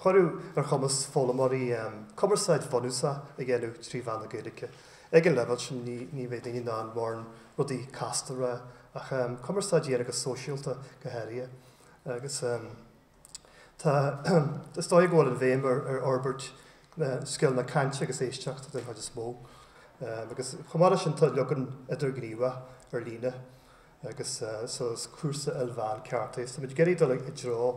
cuireadh ar chumas foghlaimeoirí cumarsáid bhunúsach a dhéanamh trí mheán na Gaeilge. Ag an leibhéal sin ní bheidh daoine in ann mórán rudaí casta a rá ach cumarsáid a dhéanamh go sóisialta go háirithe. Agus tá, is dóigh go bhfuil an bhéim ar fhorbairt na scileanna cainte agus éisteachta den chuid is mó. Agus chomh maith leis sin tá leagan idirghníomhach ar líne. agus so is cúrsa ilmheán ceart é so tá muid ag iarraidh dul i dtreo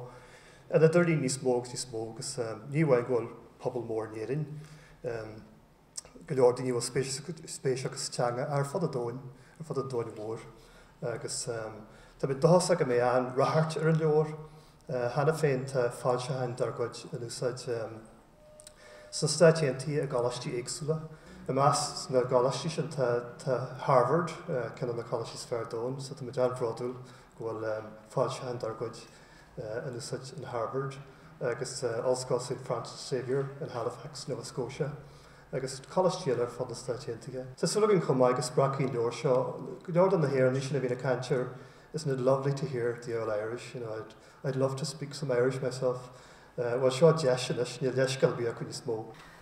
an idirlín níos mó agus níos mó agus ní amháin go bhfuil pobal mór in Éirinn go leor daoine a bhfuil spéis acu sa teanga ar fud an domhain ar fud an domhain mhóir agus tá muid dóchasach go mbeidh an-ráchairt ar an leabhar cheana féin tá foilseacháin dár gcuid in úsáid sna Stáit Aontaithe i gcoláistí éagsúla. I measc na gcoláistí sin tá Harvard, ceann de na coláistí is fearr ar domhan, so tá muid an-bhródúil go bhfuil foilseacháin dár gcuid in úsáid in Harvard, agus Ollscoil Saint Francis Xavier in Halifax, Nova Scotia, agus coláistí eile ar fud na Stáit Aontaithe. Tá súil againn chomh maith go spreagfaidh an leabhar seo go leor de na hÉireannaigh sin a bhíonn ag caint ar isn't it lovely to hear the old Irish, you know, I'd love to speak some Irish myself, Eh, bhuel, seo deis anois, níl leithscéal ar bith acu níos mó.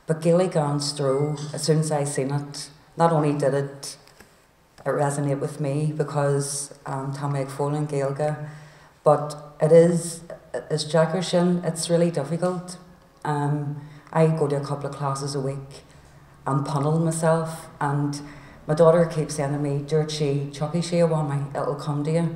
Ba Gaelic gan stró as soon as I seen it, not only did it it resonate with me because em tá mé ag foghlaim Gaeilge but it is is deacair sin, it's really difficult, em I go to a couple of classes a week and pummel myself and my daughter keeps saying to me, dúirt sí, tiocfaidh sé a Mhamaí, it'll come to you.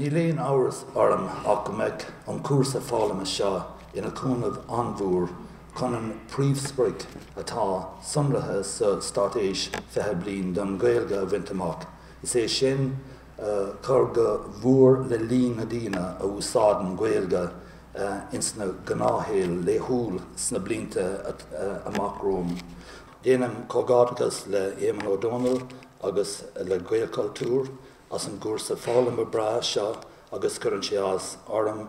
Níl aon amhras orm ach go mbeidh an cúrsa foghlama seo ina cúnamh an-mhór chun an príomhsprioc atá sonraithe sa Straitéis 20 Bliain don Ghaeilge a bhaint amach, is é sin, cur go mór le líon na ndaoine a úsáideann Gaeilge ins na gnáthshaol laethúil sna blianta amach romhainn. Déanaim comhghairdeachas le Éamonn Ó Dónaill agus le Gaelchultúr as an gcúrsa foghlama breá seo agus cuireann sé áthas orm